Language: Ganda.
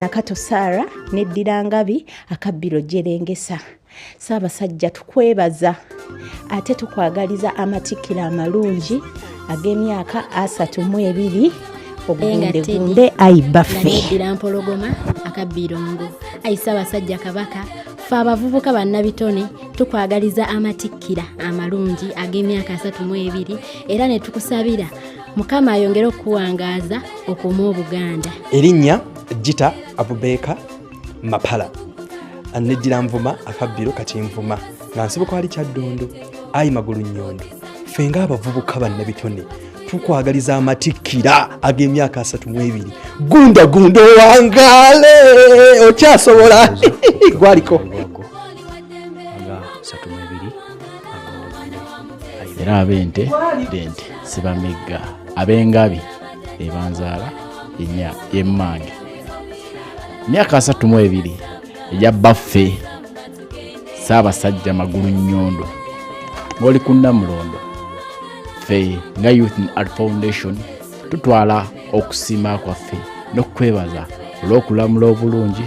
nakato saara neddira ngabi akabbiro jerengesa saabasajja tukwebaza ate tukwagaliza amatikkiro amalungi ag'emyaka asatu mu ebiri ogundegunde ayi baffeira mpologoma akabbirongo ayi saabasajja kabaka fe abavubuka bannabitone tukwagaliza amatikkira amalungi ag'emyaka asatu mu ebiri era ne tukusabira mukama ayongere okukuwangaaza okumu obuganda erinnya jita abubeeka mapala neddira nvuma akabbiro kati nvuma nga nsibuka wali kyaddondo ayi magulu nnyondo ffe ng'abavubuka bannabitone tukwagaliza amatikkira ag'emyaka asatu mu ebiri gunda gunda owangaale okyasobola gwaliko era ab'ente b'ente sibamegga ab'engabi ebanzaala enya yemmange myaka asatu mu ebiri egya baffe saabasajja magulu nnyondo ng'oli ku nnamulondo ffe nga youth in art foundation tutwala okusiima kwaffe n'okukwebaza olw'okulamula obulungi